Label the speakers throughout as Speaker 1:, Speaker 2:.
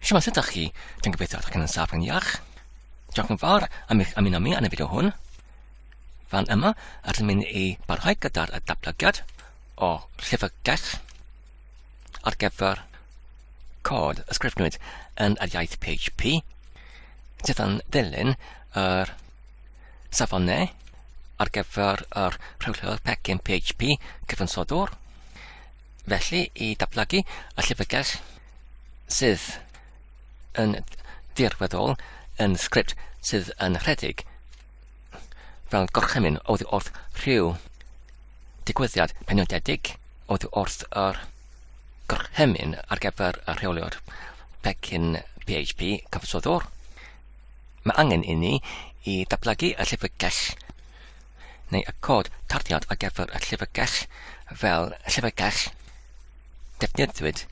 Speaker 1: Shwmae, sut ydych chi? Dwi'n gobeithio ydych chi'n yn saff yn iach. Diolch yn fawr am eich ymuno mi yn y fideo hwn. Fan yma, rydym yn ei barhau gyda'r datblygiad o llyfrgell ar gyfer cod ysgrifnwyd yn yr iaith PHP, sydd yn ddilyn yr safonau ar gyfer yr rhewllwr pecyn PHP cyfansodwr. Felly, i datblygu y llyfrgell sydd yn dirweddol yn sgript sydd yn rhedeg fel gorchymyn oddi wrth rhyw digwyddiad penodedig, oddi wrth yr gorchymyn ar gyfer y rheoliwr pecyn PHP cyfansoddwr. Mae angen i ni i datblygu y llyfrgell neu y cod tarddiad ar gyfer y llyfrgell fel llyfrgell defnyddiwyd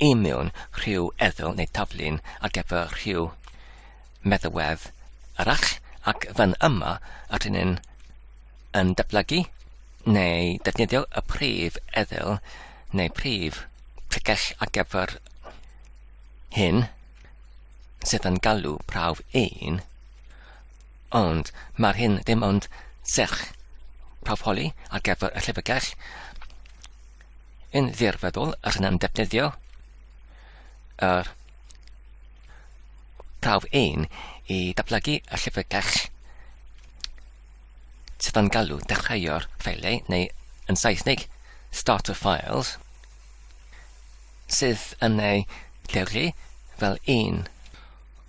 Speaker 1: i mewn rhyw eddyl neu taflun ar gyfer rhyw meddalwedd arall ac fan yma yr hyn yn, yn datblygu neu defnyddio y prif eddyl neu prif llyfrgell ar gyfer hyn sydd yn galw prawf un Ond mae'r hyn ddim ond serch prawfholi ar gyfer y llyfrgell yn ddirfeddwl ac yna'n defnyddio yr prawf ein i datblygu y llyfrgell sydd yn galw dechreuo'r ffeilau neu yn Saesneg start of files sydd yn ei lleoli fel un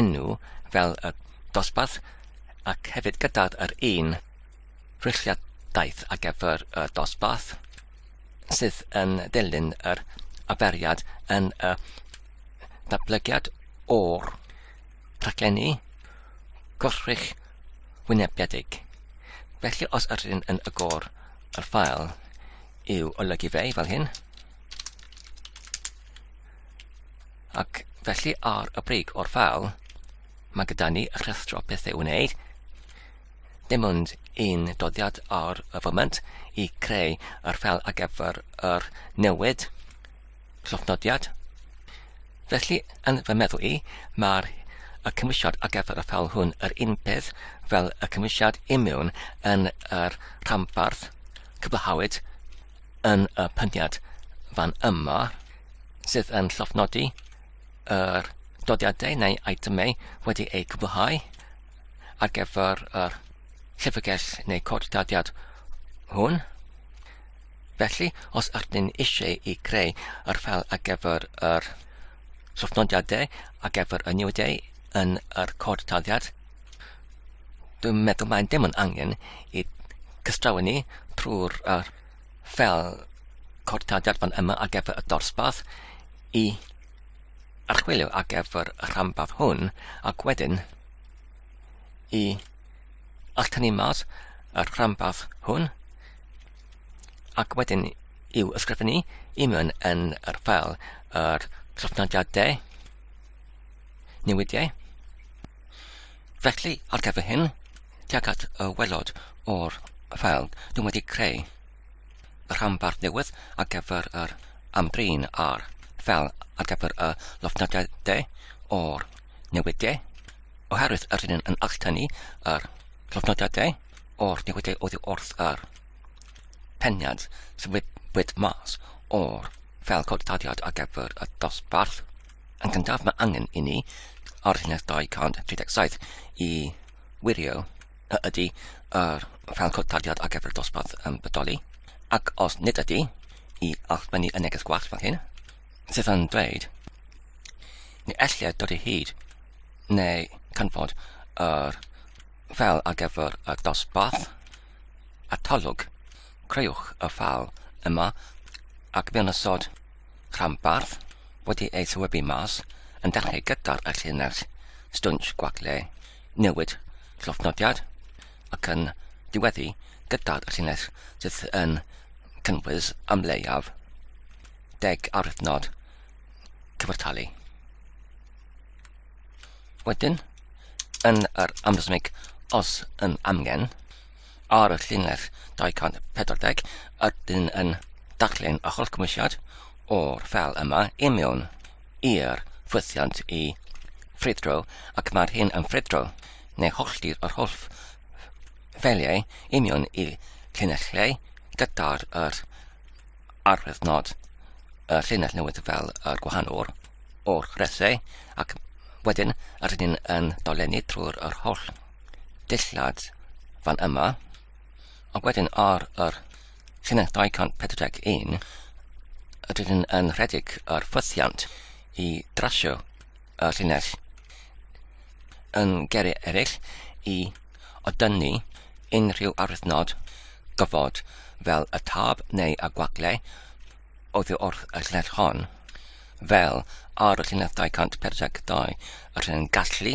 Speaker 1: enw fel y dosbarth ac hefyd gydag yr un rhwydliadaeth ar gyfer y dosbarth sydd yn dilyn yr arferiad yn y datblygiad o'r rhaglenni gwrthrych wynebiedig. Felly os ydyn yn agor yr ffael i'w olygu fe fel hyn, Ac felly ar y brig o'r fal, mae gyda ni rhestro pethau i'w wneud. Dim ond un doddiad ar y foment i creu yr fel ar gyfer yr newid llofnodiad. Felly, yn fy meddwl i, mae'r y cymwysiad ar gyfer y fel hwn yr un peth fel y cymwysiad imiwn yn yr rhanbarth cyflhawyd yn y pyniad fan yma. sydd yn llofnodi yr dodiadau neu eitemau wedi eu cwblhau ar gyfer yr llyfrgell neu cod dadiad hwn. Felly, os ydych chi'n eisiau i greu yr ffel ar gyfer yr llofnodiadau ar gyfer y niwydau yn yr cod dadiad, dwi'n meddwl mae'n dim ond angen i cystrawn ni trwy'r uh, fel codiadau fan yma ar gyfer y dosbarth i archwilio ar gyfer y rhanbarth hwn ac wedyn i all tynnu mas y rhanbarth hwn ac wedyn i'w ysgrifennu i mewn yn yr ffel yr trafnidiadau newidiau. Felly, ar gyfer hyn, Tuag at y waelod o'r ffeil, dw i'n wedi creu rhanbarth newydd ar gyfer yr amdrin a'r ffeil ar gyfer y llofnodiau de o'r newid de, oherwydd yr hyn yn alltynnu yr llofnodiau de o'r newidiau oddi wrth yr peniad sy'n wybwyd mas o'r ffeil cod taliad ar gyfer y dosbarth. Yn gyntaf mae angen i ni ar llinell 237 i wirio a ydy yr rhan cwtariad ar gyfer dosbarth yn bodoli, ac os nid ydy, i allwennu y neges gwallt fan hyn, sydd yn dweud, neu ellir dod i hyd, neu canfod yr fel ar gyfer y dosbarth, a talwg, creuwch y ffal yma ac mewn ysod Rhanbarth wedi ei thywybu mas yn dechrau gyda'r llinell stwnsh gwag le newid llofnodiad ac yn diweddu gyda'r llinell sydd yn cynnwys am leiaf deg aruthnod cyfartalu. Wedyn, yn yr amlesmig os yn amgen, ar y llinell 240 ydyn yn darllen a holcymwysiad o'r fel yma i mewn i'r ffwythiant i ffrwydro ac mae'r hyn yn ffrwydro neu holltir yr holl ffeliau i mewn i llinellau gyda'r yr arwyddnod y llinell newydd fel yr gwahanol o'r chresau ac wedyn rydyn yn dolenni trwy'r yr holl dillad fan yma, ond wedyn ar yr llinell 241 rydyn yn rhedeg ar ffythiant i drasio y llinell. Yn geri eraill i odynnu unrhyw arwyddnod gofod fel y tab neu y gwagle oddi wrth y llinell hon, fel ar y llinell 242 rydyn yn gallu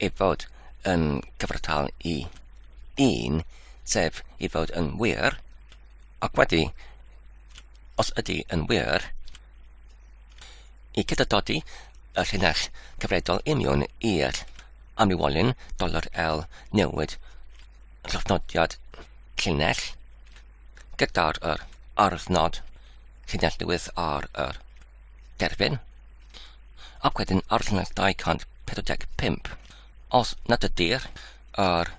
Speaker 1: ei fod yn gyfartal i un, sef ei fod yn wir, ac wedi, os ydy yn wir, i cydadodi y llinell cyfredol union i'r amrywiolyn doler L newid llofnodiad llinell gyda'r yr arwthnod llinell newydd ar yr Derbyn. Ac wedyn arddangos 245. Os nad ydy'r yr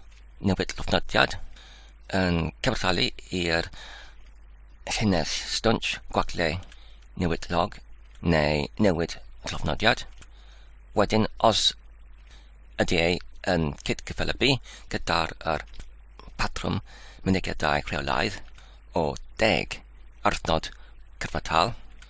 Speaker 1: newid llofnodiad yn cyfarthalu i'r llinell stwnsh gwagle newid log neu newid llofnodiad, wedyn os ydy ei yn cydgyffelybu gyda'r yr patrwm mynediadau rheolaidd o deg arthnod cyfartal,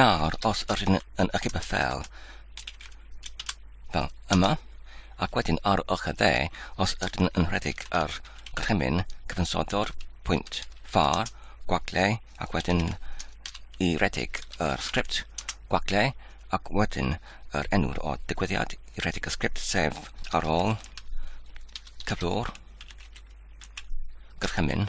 Speaker 1: Nawr, os yr hyn yn ychydig beth fel, fel yma, ac wedyn ar ochr dde, os ydyn yn rhedeg ar rhemyn cyfansoddwr pwynt far, gwagle, ac wedyn i redig yr sgript gwagle, ac wedyn yr enw'r o digwyddiad i redig y sgript, sef ar ôl cyflwr, gyrchymyn,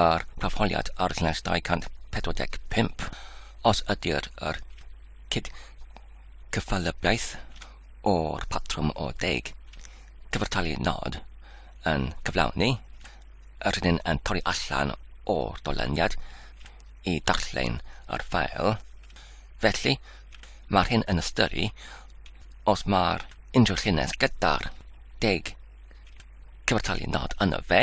Speaker 1: a'r Proffoliad ar Llinell 245 os ydy'r yr cydcyffelybiaeth o'r patrwm o deg cyfartalu nod yn cyflawni, yr hyn yn torri allan o'r dolyniad i darllen ar ffael. Felly, mae'r hyn yn ystyru os mae'r unrhyw llinell gyda'r deg cyfartalu nod yno fe,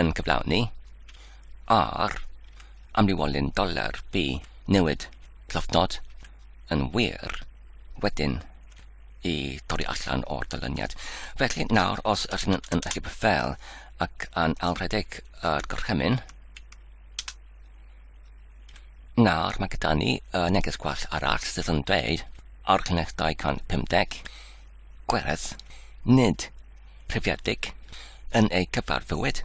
Speaker 1: yn cyflawni ar amrywiolyn doler bu newid llofnod yn wir wedyn i dorri allan o'r dylyniad. Felly nawr os ydych chi'n yn allu fel ac yn alredeg yr gorchymyn, nawr mae gyda ni y neges gwell arall sydd yn dweud ar cynnydd 250 gwerth nid rhywedig yn eu cyfarfywyd.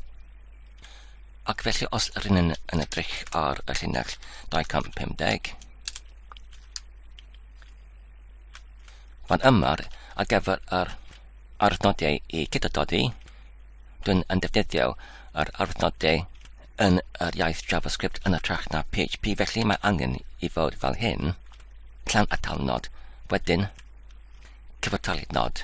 Speaker 1: Ac felly os rydyn yn, yn edrych ar y llinell 250, fan yma ar gyfer yr arnodau i cydododi, dwi'n yn defnyddio yr arnodau yn yr iaith JavaScript yn y trach na PHP, felly mae angen i fod fel hyn, llan atal nod, wedyn cyfartalu nod.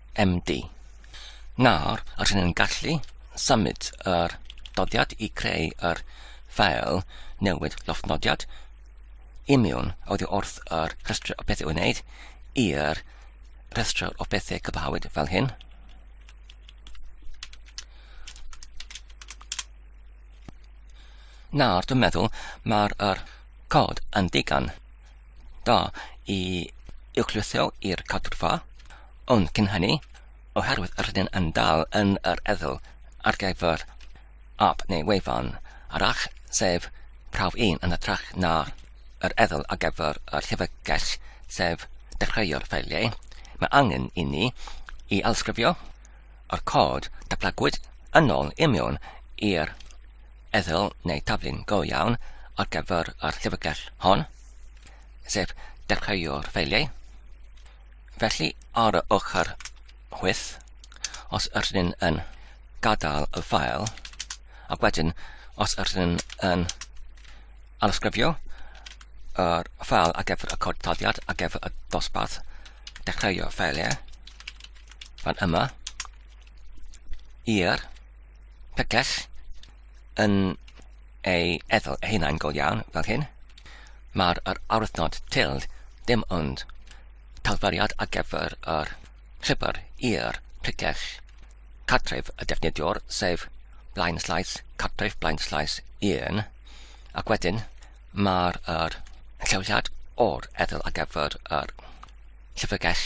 Speaker 1: MD. Nawr rydyn ni'n gallu symud yr doddiad i creu yr ffael newid llofnodiad imiwn oddi wrth yr rhestr o bethau wneud i'r rhestr o bethau cyfahawyd fel hyn. Nawr dwi'n meddwl mae'r cod yn digon. Da i uwchlwytho i'r cadwrfa, ond cyn hynny, oherwydd rydyn yn dal yn yr eddyl ar gyfer ap neu wefan arall, sef prawf 1 yn hytrach na yr eddyl ar gyfer yr llyfrgell, sef dechreuo'r ffeiliau, mae angen i ni i ailsgrifio O'r cod, datblygwyd yn ôl union i'r eddyl neu taflun go iawn ar gyfer yr llyfrgell hon, sef dechreuo'r ffeiliau. Felly, ar y ochr chwyth, os ydyn ni'n yn gadael y ffael, ac wedyn, os ydyn ni'n yn alysgrifio yr ffael ar gyfer y cod taliad ar gyfer y dosbarth dechreuo'r ffeiliau, fan yma i'r pegell yn ei ethol ei hunain go iawn fel hyn. Mae'r yr arwythnod tilde dim ond talfyriad ar gyfer yr rhibr i'r pegell cartref y defnyddiwr, sef blaen slaes cartref blaen slaes 1, ac wedyn mae'r yr lleoliad o'r ethol ar gyfer yr llyfrgell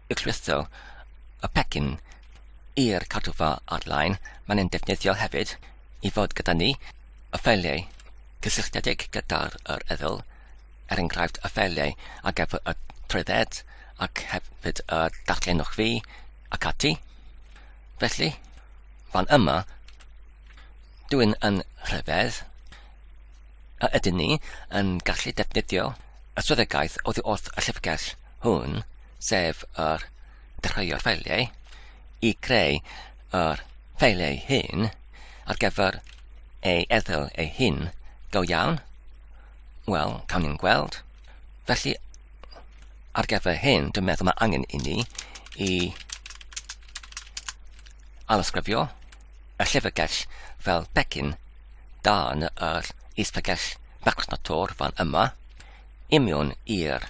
Speaker 1: Y crystal, y pecyn, i'r cartrfa ar-lein, mae'n ein defnyddio hefyd i fod gyda ni, y ffeiliau cysylltiedig gyda'r yr eddyl, er enghraifft y ffeiliau ar gyfer y trwydded ac hefyd y darllenwch fi ac ati. Felly, fan yma, dwi'n yn rhyfedd a ydyn ni yn gallu defnyddio y swyddogaeth oddi wrth y llyfrgell hwn sef yr treulio'r ffeiliau, i greu yr ffeiliau hyn ar gyfer ei erthygl ei hun go iawn? Wel, cawn ni'n gweld. Felly, ar gyfer hyn, dwi'n meddwl mae angen i ni i alysgrifio y llyfrgell fel pecyn dan yr isbegell Microsoft Tor fan yma, imiwn i'r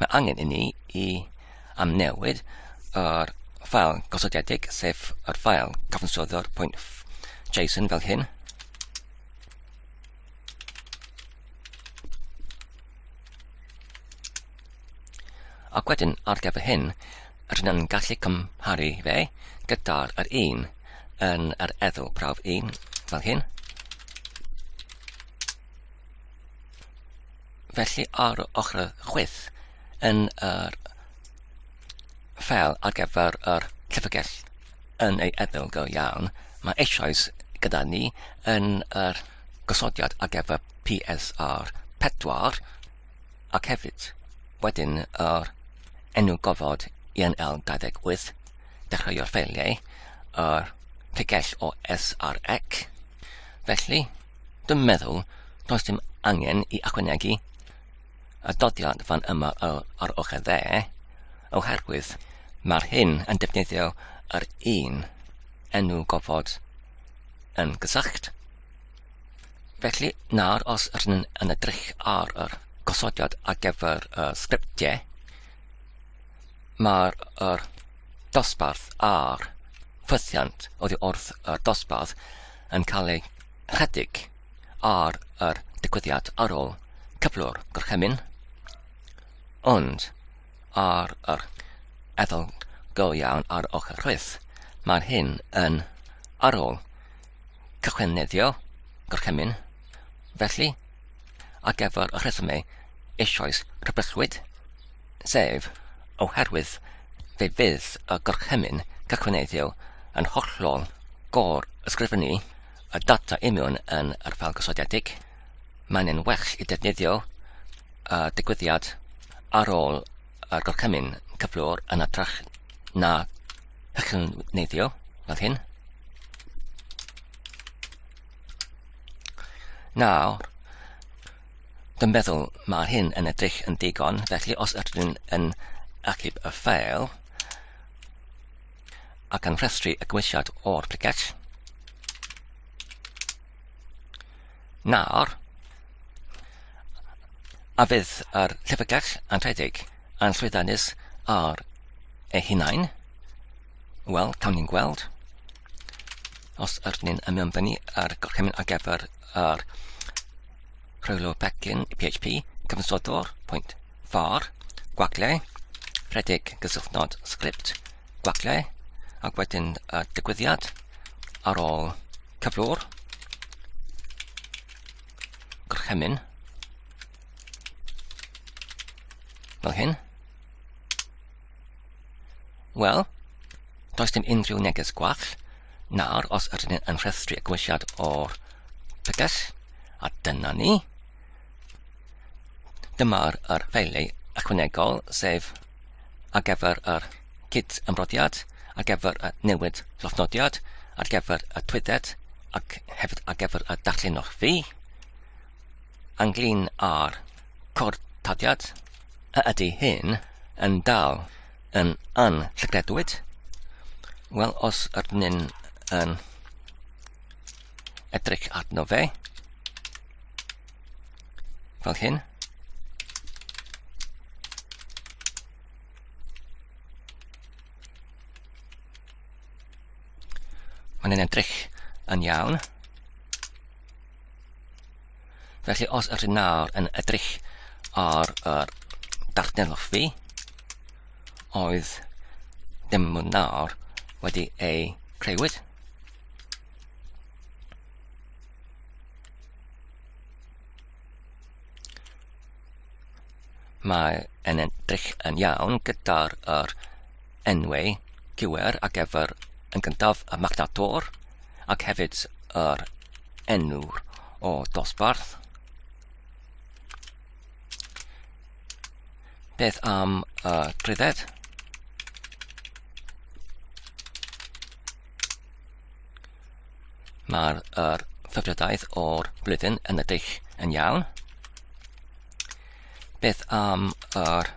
Speaker 1: Mae angen i ni i amnewid yr ffael gosodedig, sef yr ffael cyfansoddio'r pwynt JSON fel hyn. Ac wedyn ar gyfer hyn, rydyn ni'n gallu cymharu fe gyda'r yr un yn yr eddw prawf 1 fel hyn. Felly ar ochr chwith yn yr ffeil ar gyfer yr llyfrgell yn ei edl go iawn, mae eisoes gyda ni yn yr gosodiad ar gyfer PSR 4 ac hefyd wedyn yr enw gofod INL 28, dechreuo'r ffeiliau, yr tegell o SREC. Felly, Dwi'n meddwl, does dim angen i ychwanegu y dodiad fan yma ar ochr dde, oherwydd mae'r hyn yn defnyddio yr un enw gofod yn gysylltu. Felly, nawr os rydyn ni'n yn edrych ar yr gosodiad ar gyfer y sgriptiau, mae'r er dosbarth a'r ffythiant oddi wrth y dosbarth yn cael ei ychydig ar yr digwyddiad ar ôl cyflwr gorchymyn, ond ar yr ethol go iawn ar ochr rhwydd, mae'r hyn yn ar ôl cychwynneddio gorchymyn, felly ar gyfer y rhesymau eisoes rhybuddwyd, sef oherwydd fe fydd y gorchymyn cychwyneiddio yn hollol gor-ysgrifennu y data union yn yr ffel gosodiedig, mae'n yn well i defnyddio y digwyddiad ar ôl y gorchymyn cyflwr yn adrach na chychwyneiddio fel hyn. Nawr, dwi'n meddwl mae hyn yn edrych yn digon, felly os ydyn ni'n yn achub y ffeil ac yn rhestru y gwisiad o'r briget, nawr, a fydd yr llyfrgell anrhedeg yn llwyddiannus ar ei hunain, wel, cawn ni'n gweld. Os ydyn ni'n ymuno'n fyny ar gorchymyn ar gyfer yr rhywlo pecyn PHP, cyfansodwr, pwynt, far, gwagle, rhedeg gysylltnod sgript, gwagle, ac wedyn y digwyddiad ar ôl cyflwr, gorchymyn, fel hyn, Wel, does dim unrhyw neges gwall. Nawr, os ydyn ni yn rhestru y gwylliad o'r pegell, a dyna ni, dyma'r er ffeiliau ychwanegol, sef ar gyfer yr cyd ymrodiad, ar gyfer y newid llofnodiad, ar gyfer y twyded, ac hefyd ar gyfer y darllenwch fi. ynglŷn â'r cortodiad, a ydy hyn yn dal yn anllygredwyd? Wel, os ydyn ni'n yn edrych arno fe, fel hyn, Mae'n edrych yn iawn. Felly os ydych chi'n nawr yn edrych ar yr darllenwch fi, oedd ddim yn nawr wedi ei creuwyd. Mae yn edrych yn iawn gyda'r er enwau cywir ar gyfer yn gyntaf y magnator ac hefyd yr enw o dosbarth. Beth am y drydedd? Mae'r er ffefrydaeth o'r blwyddyn yn y dull yn iawn. Beth am yr er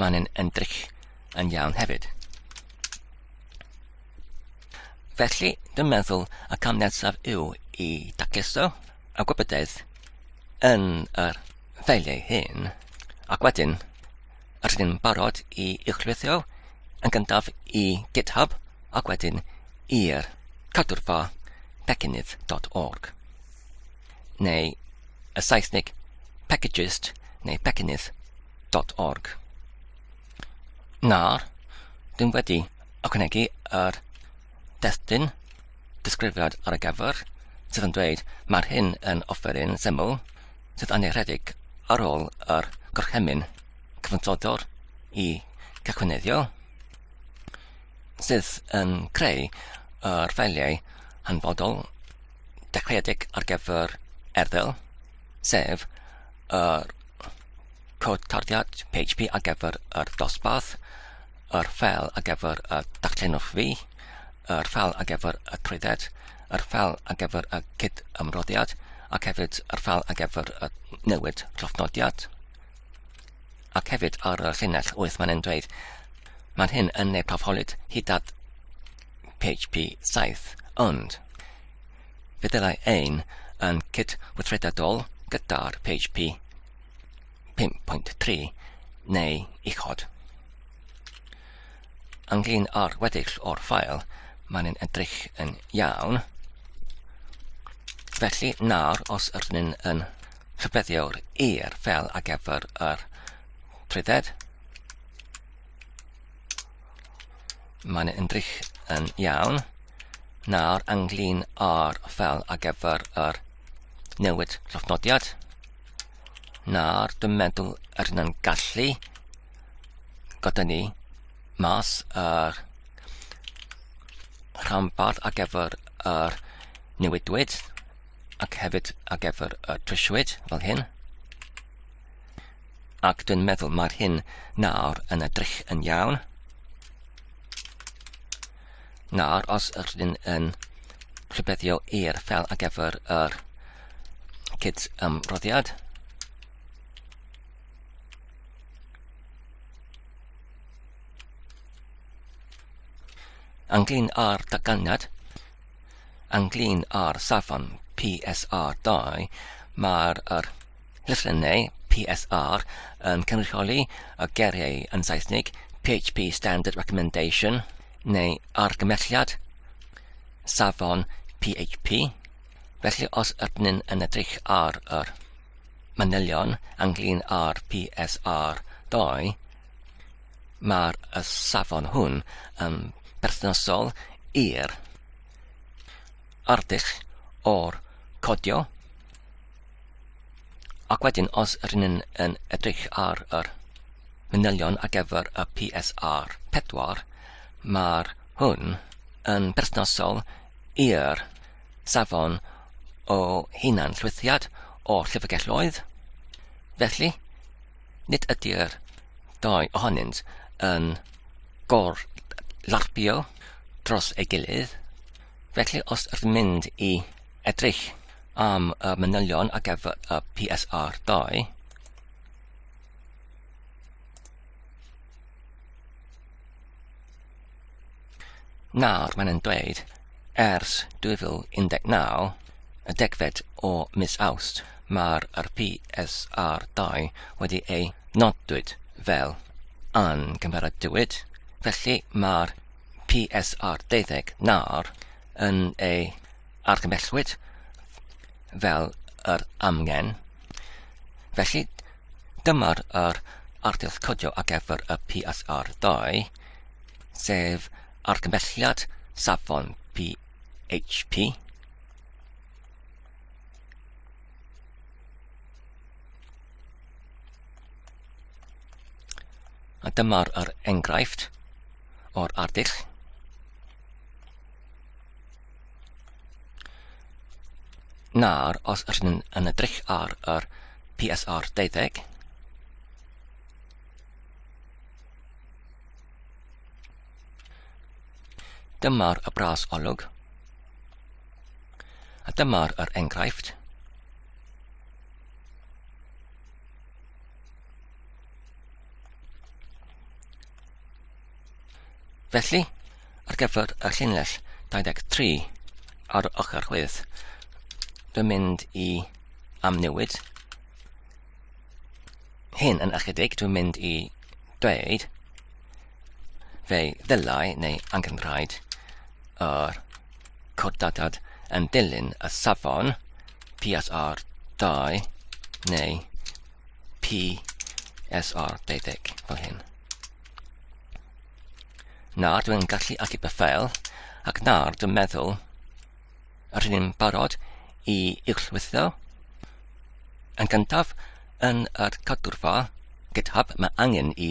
Speaker 1: Mae'n yn, yn dric yn iawn hefyd. Felly, dwi'n meddwl y cam nesaf yw i daceso y gwybodaeth yn yr ffeiliau hyn, ac wedyn rydyn ni'n barod i uchlwythio yn gyntaf i GitHub ac wedyn i'r cadwrfa pecynnydd.org. neu y Saesneg packages neu packenydd.org. Nawr, dwi'n wedi ychwanegu yr destun disgrifiad ar y gyfer sydd yn dweud mae'r hyn yn offeryn syml sydd annerhedig ar ôl yr gorchymyn cyfansoddwr i gychwynyddio sydd yn creu yr ffeiliau hanfodol dechreuedig ar gyfer erthygl, sef yr cod tarddiad PHP ar gyfer yr dosbarth, yr ffel ar gyfer y darllenwch fi, yr ffel ar gyfer y trwydded, yr ffel ar gyfer y cyd ymroddiad, ac hefyd yr ffel ar gyfer y newid llofnodiad. Ac hefyd ar y llinell wyth mae'n dweud, mae'n hyn yn ei profolyd hyd at PHP 7, ond feddylai ein yn cydweithredadol gyda'r PHP 5.3 neu uchod. Ynglyn â'r weddill o'r ffael, mae'n yn edrych yn iawn. Felly nawr os ydyn ni'n yn rhybeddiwr i'r fel a gefyr yr trwydded, Mae'n ymdrych yn iawn. Nawr ynglyn â'r fel ar gyfer yr newid llofnodiad. Nawr dwi'n meddwl yr yn gallu gyda ni mas yr rhanbarth ar gyfer yr newidwyd ac hefyd ar gyfer y trisiwyd fel hyn. Ac dwi'n meddwl mae'r hyn nawr yn edrych yn iawn. Nawr, os ydych chi'n yn rhybeddio i'r fel ar gyfer yr cyd ymroddiad, ynglyn â'r datganiad, ynglyn â'r safon PSR2, mae'r er, Llythrennau PSR yn cynrychioli y geiriau yn Saesneg PHP Standard Recommendation neu argymhelliad safon PHP, felly os ydyn yn edrych ar yr manylion ynglyn â'r PSR 2, mae'r y safon hwn yn berthnasol i'r arddull o'r codio Ac wedyn os rŷn yn, yn edrych ar yr manylion ar gyfer y PSR 4, mae'r hwn yn berthnasol i'r safon o hunan llwythiad o llyfrgelloedd. Felly, nid ydy'r dau ohonynt yn gor larpio dros ei gilydd. Felly, os ydym mynd i Edrych am y manylion ar gyfer y PSR 2. Nawr mae'n yn dweud, ers 2019, y degfed o mis Awst, mae'r PSR 2 wedi ei nodwyd fel yn gymeradwyd, felly mae'r PSR 12 nawr yn ei argymhellwyd fel yr amgen. Felly, dyma'r yr ardill codio ar gyfer y PSR2, sef argymhelliad safon PHP. A dyma'r yr enghraifft o'r ardill. Nawr, os rydyn ni'n yn edrych ar yr PSR 12, dyma'r y bras olwg, a dyma'r yr enghraifft, Felly, ar gyfer y llinell 23 ar ochr chwith, dwi'n mynd i amnewid hyn yn ychydig, dwi'n mynd i dweud fe ddylai neu angenrhaid yr cordadad yn dilyn y safon PSR 2 neu PSR 20 fel hyn. Na, dwi'n gallu achub y ffeil, ac nawr dwi'n meddwl yr hyn yn barod i uwchwytho. Yn gyntaf, yn yr cadwrfa GitHub mae angen i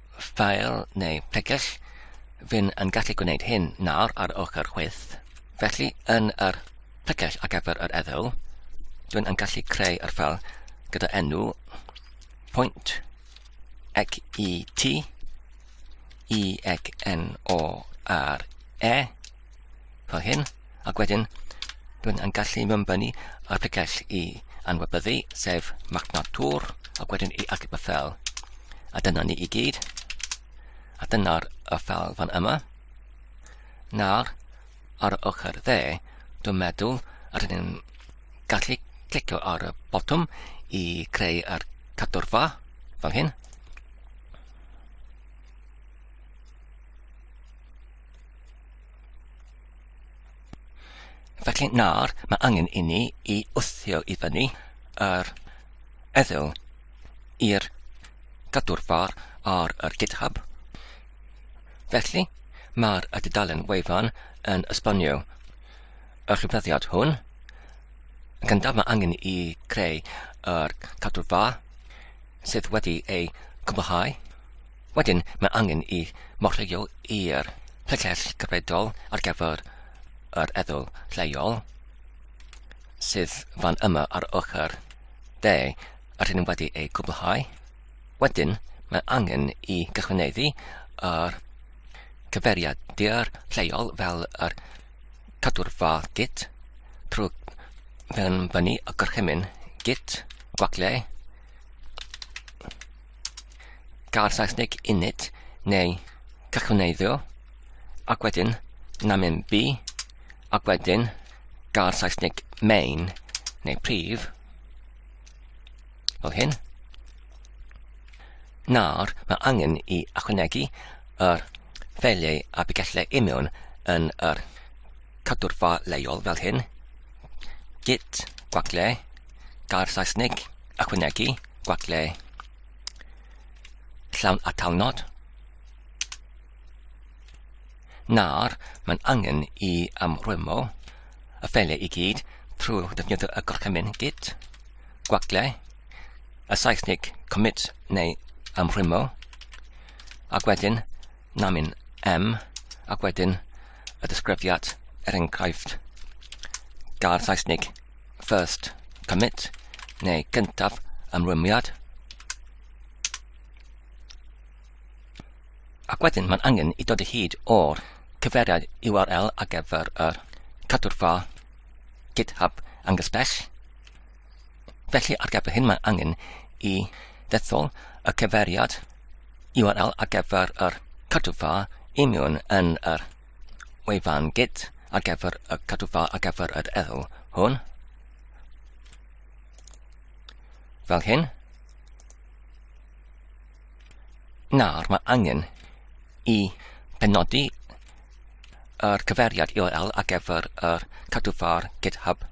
Speaker 1: file neu pregell, fi'n yn gallu gwneud hyn nawr ar ochr chwith, felly yn yr pregell ar gyfer yr eddo, dwi'n yn gallu creu yr ffel gyda enw pwynt ec i ti, i ec n o r e, fel hyn, Ac wedyn, dwi'n yn gallu mymbynnu ar picell i anwybyddu, sef magnet tŵr, ac wedyn i achub y ffel. A dyna ni i gyd. A dyna'r y ffel fan yma. Nawr, ar y ochr dde, dwi'n meddwl rydyn ni'n gallu clicio ar y botwm i creu ar cadwrfa, fel hyn. Felly nawr mae angen i ni i wthio i fyny yr eddyl i'r gadwrfar ar yr GitHub. Felly mae'r y dudalen wefan yn esbonio y rhybyddiad hwn. Gan daf mae angen i creu yr cadwrfa sydd wedi ei gwblhau. Wedyn mae angen i morwyo i'r llycell gyfredol ar gyfer yr eddwl lleol sydd fan yma ar ochr de a rydyn wedi ei gwblhau. Wedyn mae angen i gychwyneddu yr cyferiad dir lleol fel yr cadwrfa git trwy fynnu y gorchymyn git gwagle gair Saesneg init neu cychwneiddio, ac wedyn namen B, ac wedyn gair Saesneg main neu prif, fel hyn. Nawr, mae angen i ychwanegu yr ffeiliau a bigellau i mewn yn yr cadwrfa leol fel hyn. Git, gwagle, gair Saesneg ychwanegu, gwagle llawn atalnod. Nawr, mae'n angen i amrwymo y ffeiliau i gyd trwy defnyddio y gorchymyn git, gwagle, y Saesneg commit neu amrwymo, ac wedyn namin M, ac wedyn y disgrifiad er enghraifft gair Saesneg first commit, neu gyntaf ymrwymiad. Ac wedyn mae'n angen i dod y hyd o'r cyfeiriad URL ar gyfer yr cadwrfa GitHub angysbell. Felly ar gyfer hyn mae'n angen i ddethol y cyfeiriad URL ar gyfer yr cadwrfa imiwn yn yr wefan git ar gyfer y cadwfa ar gyfer yr ethol hwn. Fel hyn. Nawr mae angen i penodi yr cyferiad URL ar gyfer yr cadwfa'r GitHub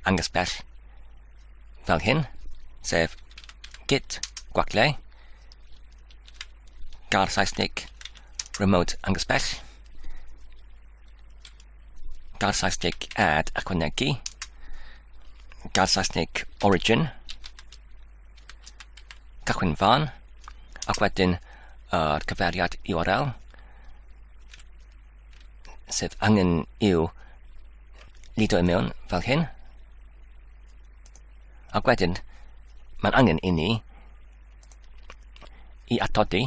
Speaker 1: angysbell fel hyn, sef git gwaglau, gar Saesnig Remote angos bell. Gael Saesneg add ychwanegu. Gael Saesneg origin. Cychwyn fan. Ac wedyn yr uh, cyfeiriad URL sydd angen i'w lido i mewn fel hyn. Ac wedyn, mae'n angen i ni i atodi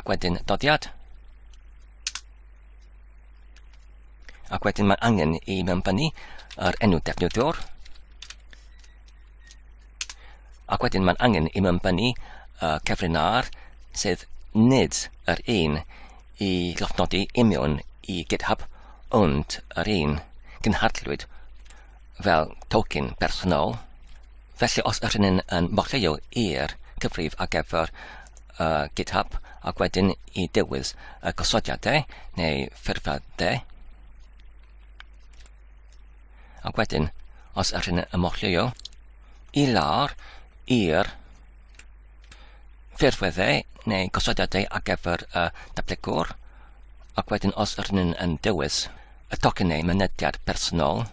Speaker 1: Ac wedyn dodiad. Ac wedyn mae angen i mewnbynnu yr enw defnyddiwr. Ac wedyn mae'n angen i mewnbynnu uh, cyfrin ar sydd nid yr un i lofnodi imiwn i GitHub ond yr un gynhadlwyd fel token bersonol Felly os ydyn ni'n yn mochleio i'r cyfrif ar gyfer uh, GitHub ac wedyn i dewis y gosodiadau neu ffurfiadau ac wedyn os ydyn ni'n ymochlio i lawr i'r ffurfweddau neu gosodiadau ar gyfer y datblygwr ac wedyn os ydyn nhw'n yn dewis y tocyn neu mynediad personol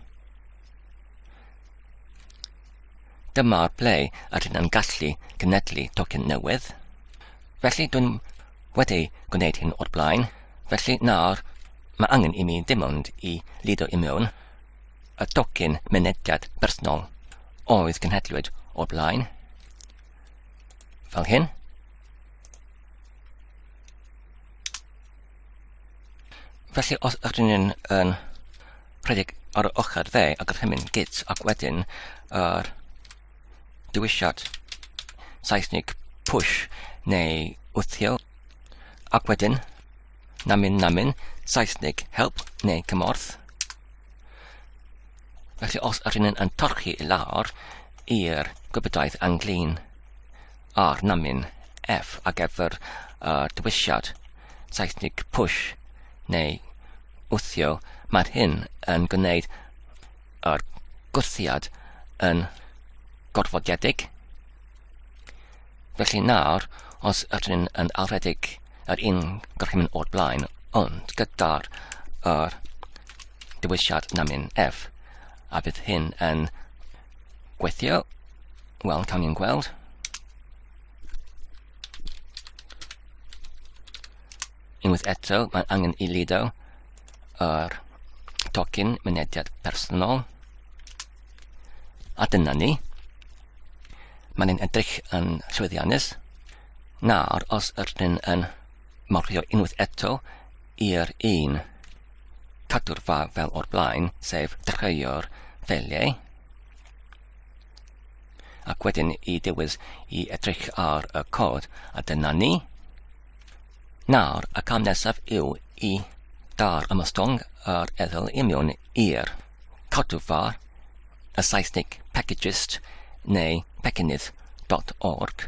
Speaker 1: Dyma'r ble yr hyn yn gallu cynedlu tocyn newydd. Felly dwi'n wedi gwneud hyn o'r blaen, felly nawr mae angen i mi dim ond i lido i mewn y tocyn mynediad personol oedd cynhedlwyd o'r blaen, fel hyn. Felly os ydyn ni'n yn rhedeg ar y ochr dde a gorchymyn git ac wedyn yr dewisiad Saesnig push neu wthio ac wedyn namin namin Saesnig help neu cymorth. Felly os ydyn ni'n yn torchi i lawr i'r gwybodaeth anglin a'r namyn F ar gyfer y dewisiad, Saesnig push neu wthio, mae'r hyn yn gwneud yr gwthiad yn gorfodiedig. Felly nawr, os ydyn ni'n yn alwedig yr un gorchymyn o'r blaen, ond gyda'r yr dewisiad namyn F, a bydd hyn yn Gweithio. Wel, cawn ni'n gweld. Unwaith eto, mae angen i lido yr tocyn mynediad personol. A dyna ni. Mae'n ein edrych yn llwyddiannus. Nawr, os ydyn yn marcio unwaith eto, i'r un cadw'r fa fel o'r blaen, sef treio'r ffeiliau, ac wedyn i dewis i edrych ar y cod, a dyna ni. Nawr, y cam nesaf yw i dar ymostwng yr eddyl i mewn i'r cadw fa, y Saesnig packagist neu peckinydd.org.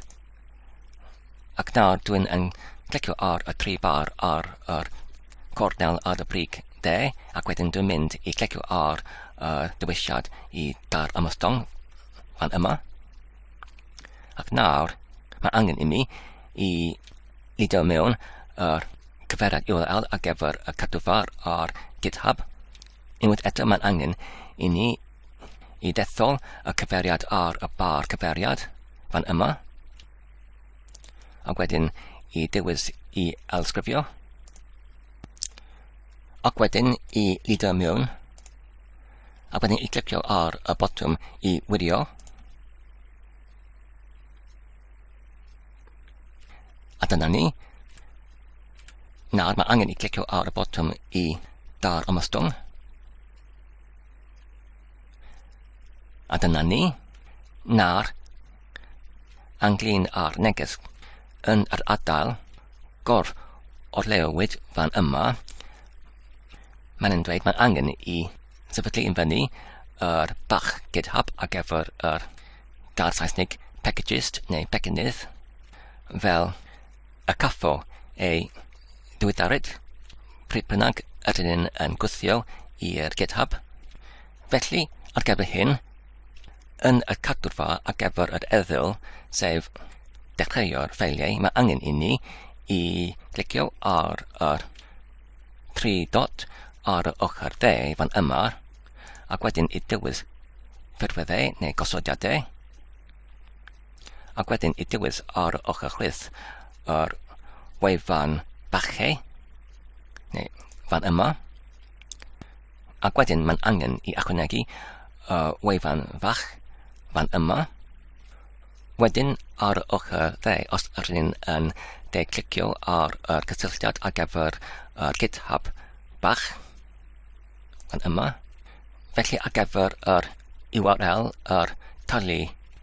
Speaker 1: Ac nawr dwi'n yn clicio ar y tri bar ar yr cornel ar y brig de, ac wedyn dwi'n mynd i clicio ar y dewisiad i dar ymostong fan yma. Ac nawr, mae angen i mi i lidio mewn yr cyfeiriad URL ar gyfer y cadwfar ar GitHub. Unwaith eto, mae'n angen i ni i ddethol y cyfeiriad ar y bar cyfeiriad fan yma ac wedyn i dewis i elsgrifio ac wedyn i lido mewn ac wedyn i glicio ar y botwm i wirio a dyna ni Nawr mae angen i clicio ar y botwm i dar ymostwng A dyna ni, na'r anglin a'r neges yn yr adael gor o'r leowyd fan yma. Mae'n yn dweud mae'n angen i sefydlu yn fyny yr bach GitHub ar gyfer yr gair Saesnig packagist neu pecynnydd fel a caffo ei ddiweddaryd, pryd bynnag ydyn ni'n yn gwthio i'r GitHub. Felly, ar gyfer hyn, yn y cadwrfa ar gyfer yr eddyl, sef dechreuo'r ffeiliau, mae angen i ni i glicio ar yr tri dot ar y ochr dde fan yma, ac wedyn i dewis ffurfweddau neu gosodiadau. ac wedyn i dywys ar ochr chwith yr wefan bachau, neu fan yma, ac wedyn mae'n angen i ychwanegu y wefan fach fan yma, wedyn ar ochr dde os ydyn ni'n yn de clicio ar y cysylltiad ar gyfer y GitHub bach fan yma, felly ar gyfer yr URL, yr tali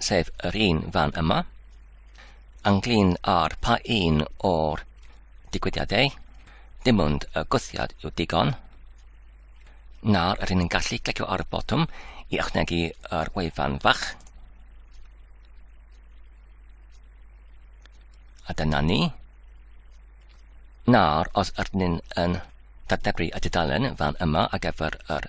Speaker 1: sef yr un fan yma, ynglyn â'r pa un o'r digwyddiadau, dim ond y gwthiad yw digon, nawr rydyn ni'n gallu clicio ar y botwm i ychwanegu yr wefan fach. A dyna ni. Nawr, os ydyn ni'n dadebru y dudalen fan yma ar gyfer yr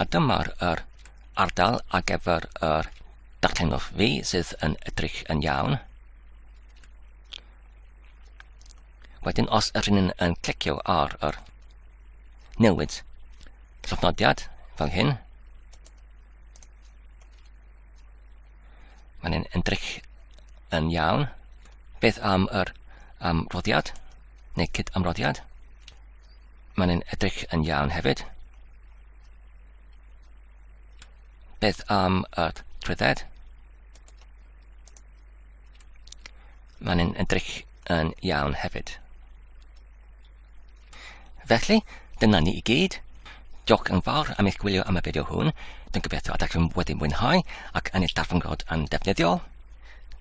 Speaker 1: A dyma'r yr ardal ar gyfer yr darllenwch fi sydd yn edrych yn iawn. Wedyn os yr hyn yn clicio ar yr newid llofnodiad fel hyn, mae'n yn edrych yn iawn. Beth am yr amroddiad neu cyd amroddiad? Mae'n yn edrych yn iawn hefyd. Beth am y trwydded? Mae'n yn edrych yn iawn hefyd. Felly, dyna ni i gyd. Diolch yn fawr am eich gwylio am y fideo hwn. Dwi'n gobeithio ydych chi'n wedi mwynhau ac yn ei darfangod yn defnyddiol.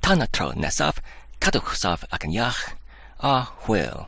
Speaker 1: Tan y tro nesaf, cadwch saf ac yn iach, a hwyl!